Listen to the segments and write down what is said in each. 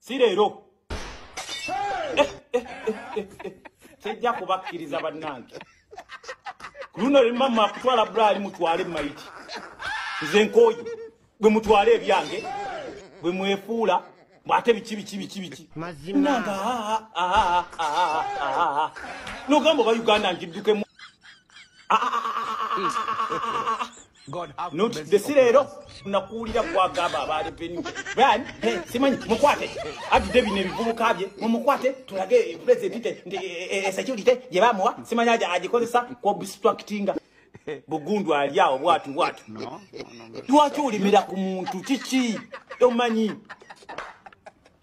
si leero eh, eh, eh, tejja kubakkiriza bannange ku luno limama kutwala bulaali mutwale mayiti nze nkooyi bwe mutwale ebyange bwe mwefuula mwate biki biki biki biki nanga nogamba oba uganda ngiddukemu notdesireero nakuwulira kwagamba abaali peni brian simanyi mukwate atude bino ebivubuka bye mumukwate tulage eh, presidente nti eh, eh, security gye bamuwa simanyi aja agikozesa ku obstructinga bugundu ali awo bwatu bwatu lwaki olimira ku muntu kiki tomanyi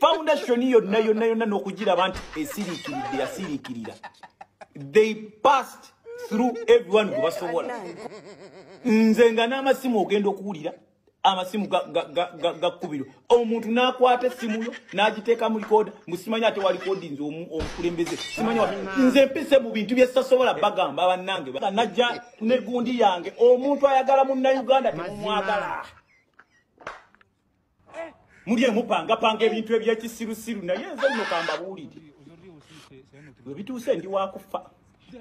foundation yonna yonna yonna n'okugiraba nti esiriikiridde yasiriikirira they passed through everyone gwe basobola nze nga n'amasimu ogenda okuwulira amasimu gakkubirwa omuntu n'akwata essimu yo n'agiteeka mu likooda mbu simanya ate walikodi nze omukulembeze simanya nze mpise mu bintu byesasobola bagamba bannange najja negundi yange omuntu ayagala munnayuganda temumwagala muli emupangapanga ebintu ebyekisirusiru naye nze nno kambabuulire bwe bituuse ndi wakufa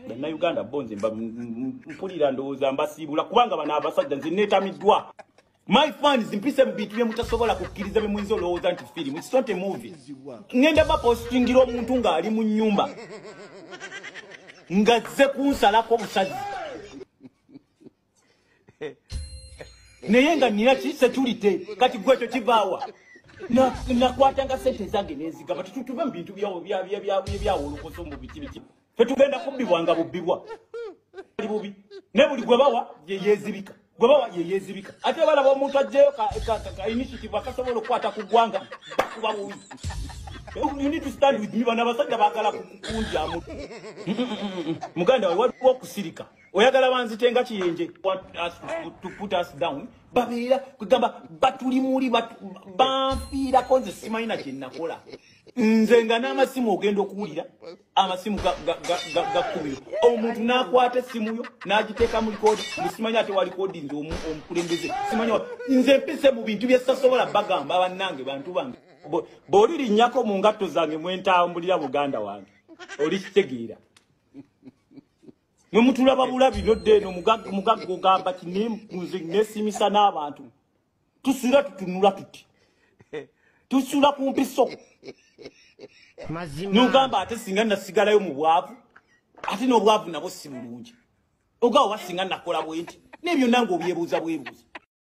bannayuganda bo nze mpulira ndowooza mbasiibula kubanga bano abasajja nze neetamiddwa my fans mpise mu bintu bye mutasobola kukkiriza bye muyinza olowooza nti firimu it's not a movie ŋŋenda bapostingira omuntu ng'ali mu nnyumba ng'azze kunsalako obusazi naye nga nina kisetulite kati gwe ekyo kivaawa nakwatanga sente ezange nezigaba tetutuve mu bintu byawolokoso mu biki biki fetugenda kubbibwa nga bubbibwa ali bubi ne buli gwe bawa yeyezibika gwe bawa yeyezibika ate balaba omuntu ajjeyo kainitiative akasobola okukwata ku ggwanga bakuba bubi you need to stand with me bano abasajja bagala kukunjamu muganda wawe waliwo okusirika oyagala banzite nga kiyenje babeera kwegamba batuli muli banfiirako nze simanyi na kyenakola nze nga n'amasimu ogenda okuwulira amasimu gakkubiro omuntu n'akwata essimuyo n'agiteeka mu likodi nesimanyi ate walikodi nze omukulembeze simanyi nze mpise mu bintu byesasobola bagamba bannange bantu bange bw'oli linnyako mu ngatto zange mwentambulira muganda wange oli kitegeera mwe mutulaba bulabi nodde eno mugagga ogamba ti nze nesimisa n'abantu tusula tutunula tuti tusula ku mpiso nogamba ate singa nasigalayo mu bwavu ate n'obwavu nabo si bulungi ogawo wasinga nakola bwenti nebyo nange obyebuuza bwebuuza